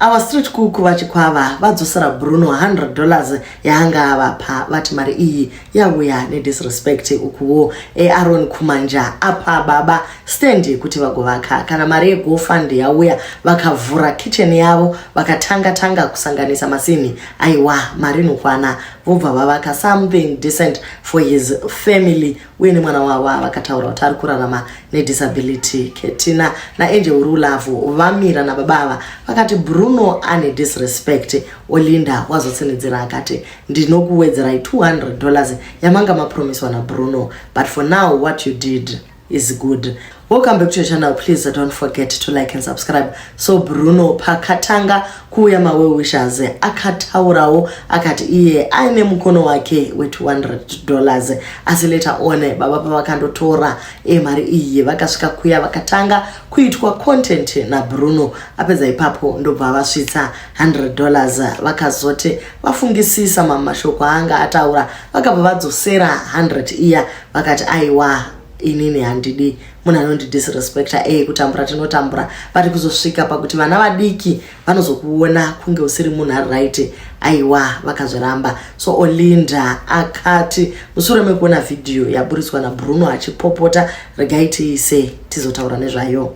Our street cook vachikwava vadzosera Bruno 100 dollars yaanga avapa vati mari iyi yauya nedisrespect ukuwo eAron Kumanja apa baba stand yekuti vagovaka kana mari yegofund yauya vakavhura kitchen yavo vakatanga tanga kusanganisa masinhi aiwa mari inokwana vobva vavaka something decent for his family uye nemwana wavo avakataura kuti ari kurarama nedisability ketina naangel uri ulavhu vamira nababa ava vakati bruno ane disrespect olinda wazotsinhidzira akati ndinokuwedzerai 200 dollars yamanga mapromiswa nabruno but for now what you did is good Welcome back to your channel. Please uh, don't forget to like and subscribe. So Bruno pakatanga kuuya mawe wishes akataurawo akati iye aine mukono wake we 200 dollars asi later on baba pavakandotora eh, mari iyi vakasvika kuya vakatanga kuitwa content na Bruno apedza ipapo ndobva vasvitsa 100 dollars vakazoti vafungisisa mamashoko anga ataura vakabva vadzosera 100 iya vakati aiwa inini handidi munhu anondidisrespecta eye kutambura tinotambura but kuzosvika pakuti vana vadiki vanozokuona kunge usiri munhu ari right aiwa vakazviramba so olinda akati mushure mekuona vhidhiyo yaburitswa nabruno achipopota regai tiise tizotaura nezvayo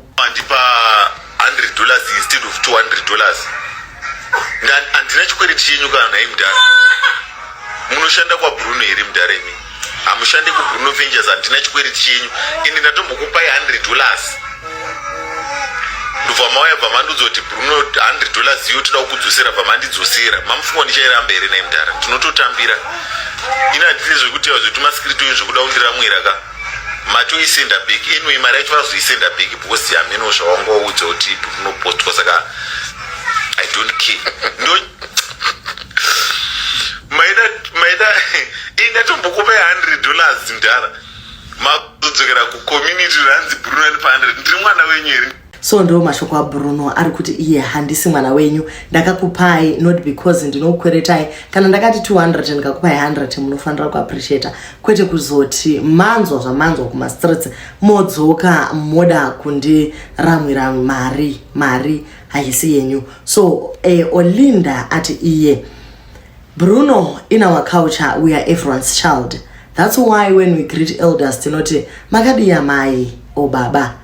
100 dollars instead of 200 dollars handina chikwereti chenyu kana nhai mudhara munoshanda kwabruno here mudhara imi hamushande kubruno vengers handina chikwereti chenyu ende ndatombokupai 100 dollars ndobva mauya bva mandiudza kuti bruno 100 dollars iyo toda kukudzosera bva mandidzosera mamufunga ndichairamba here nhai mudhara ndinototambira ini handiti zvekuti zvekuti maskiritoyo zvekuda kundiramwira ka mati uisenda big inwi mari yacho vazoisenda big because hameno zvawangoudza kuti unopostwa saka i don't care ndo maida maida ingatombokupai 100 dollars ndara makudzokera kucommunity ranzi brunani pa 100 ndiri mwana wenyu here so ndiwo mashoko abruno ari kuti iye handisi mwana wenyu ndakakupai not because ndinokukweretai kana ndakati 200 ndikakupai 100 munofanira kuappreciata kwete kuzoti manzwa zvamanzwa kumastreets modzoka moda kundiramwira mari mari haisi yenyu so eh, olinda ati iye bruno in our culture we are everyone's child that's why when we greet elders tinoti makadiya mai obaba oh,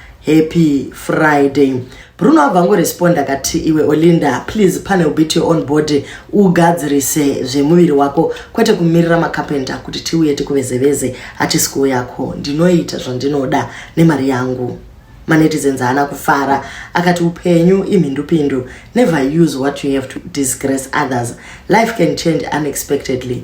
Happy Friday. Bruno abva angoresponda akati iwe Olinda please pane ubit your own body ugadzirise zvemuviri wako kwete kumirira makapenta kuti tiuye tikuvezeveze hachisi kuwo yako ndinoita zvandinoda nemari yangu manetizens haana kufara akati upenyu imhindupindu never use what you have to disgrace others life can change unexpectedly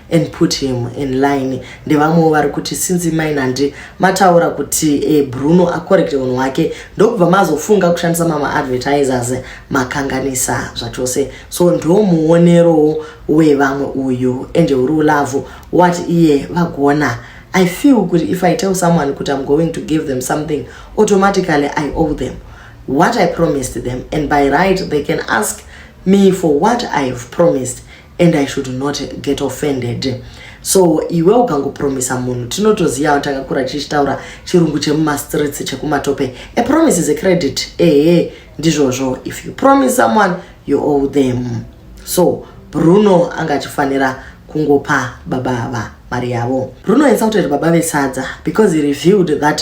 and put him in line ndevamwewo vari kuti since mainandi mataura kuti e, bruno acorrecte unhu wake ndokubva mazofunga kushandisa mama advertisers makanganisa zvachose so ndo muonerowo wevamwe uyu ende uri ulavhu wat iye vagona i feel kuti if i tell someone kuti im going to give them something automatically i owe them what i promised them and by right they can ask me for what i have promised and i should not get offended so iwe ukangopromisa munhu tinotoziva kuti akakura chichitaura chirungu chemumastreets chekumatope a promise is a credit ehe ndizvozvo if you promise someone you owe them so bruno anga achifanira kungopa baba ava mari yavo bruno insulted baba vesadza because he revealed that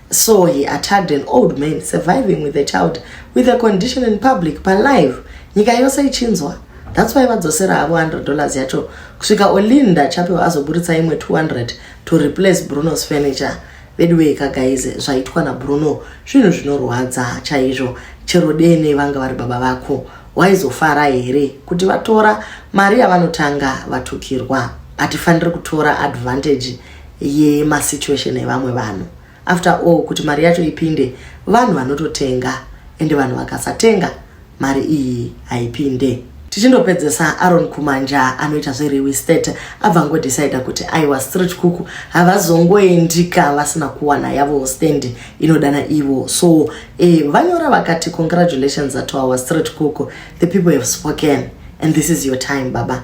So he attacked an old man surviving with a child with a condition in public pa live nyika yose ichinzwa that's why vadzosera havo 100 dollars yacho kusvika olinda chapewa azoburitsa imwe 200 to replace bruno's furniture veduwee kagaize zvaitwa nabruno zvinhu zvinorwadza chaizvo chero dene vanga vari baba vako waizofara here kuti vatora mari yavanotanga vatukirwa hatifaniri kutora advantage yemasituation evamwe vanhu after all kuti mari yacho ipinde vanhu vanototenga ende vanhu vakasatenga mari iyi haipinde tichindopedzesa aron kumanja anoita zvereal estate abva ngodecida kuti aiwa street cook havazongoendika vasina kuwana yavo stand inodana ivo so e, vanyora vakati congratulations to our street cook the people have spoken and this is your time baba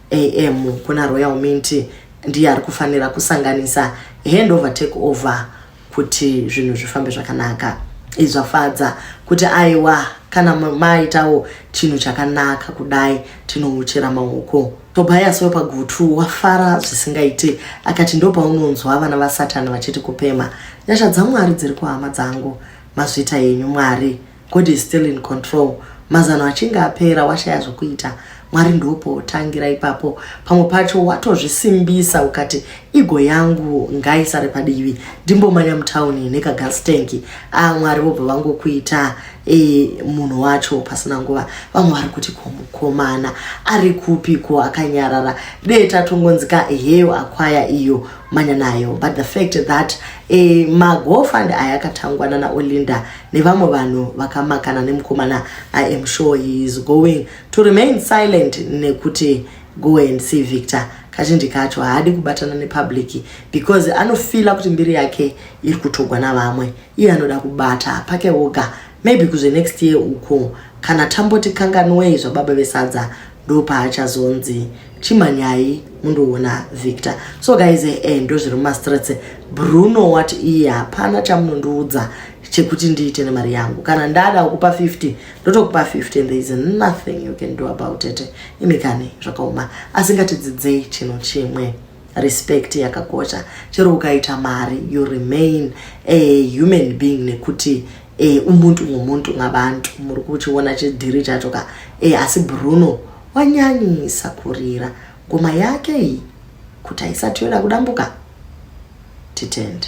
am kuna royal mint ndiye ari kufanira kusanganisa hand over take over kuti zvinhu zvifambe zvakanaka izvafadza kuti aiwa kana maitawo chinhu chakanaka kudai tinouchera maoko tobias wepagutu wafara zvisingaiti akati ndopaunonzwa vana vasatani vachiti kupema nyasha dzamwari dziri kuhama dzangu mazvita yenyu mwari God is still in control. Mazano achinge apera washaya zvokuita. Mwari ndopo otangira ipapo. Pamwe pacho watozvisimbisa ukati igo yangu ngaisare padivi. Ndimbomanya mutown nekagas tanki. Ah Mwari vobva vangokuita e, munhu wacho pasina nguva. Vamwe vari kuti ko mukomana ari kupi ko akanyarara. Dee tatongonzika heyo akwaya iyo manya nayo. But the fact that e, magofund aya akatangwa nana Olinda nevamwe vanhu vakamakana nemukomana i am sure he is going to remain silent nekuti go and see victor kazhinji kacho haadi kubatana nepublic because anofila kuti mbiri yake iri kutogwa navamwe iye anoda kubata pake woga maybe kuzve next year uko kana tamboti kanganwei zvababa vesadza ndopaachazonzi chimhanyai mundoona victor so guys e eh, eh, ndozviri mumastrets bruno wati iye hapana chamunondiudza chekuti ndiite nemari yangu kana ndada kukupa 50 ndotokupa 50 and there is nothing you can do about it imi kani zvakaoma asingatidzidzei chino chimwe respect yakakosha chero ukaita mari you remain a human being nekuti e, umuntu ngomuntu ngabantu muri kuchiona chidhiri chacho ka e, asi bruno wanyanyisa kurira ngoma yake iyi kuti haisati yoda kudambuka titende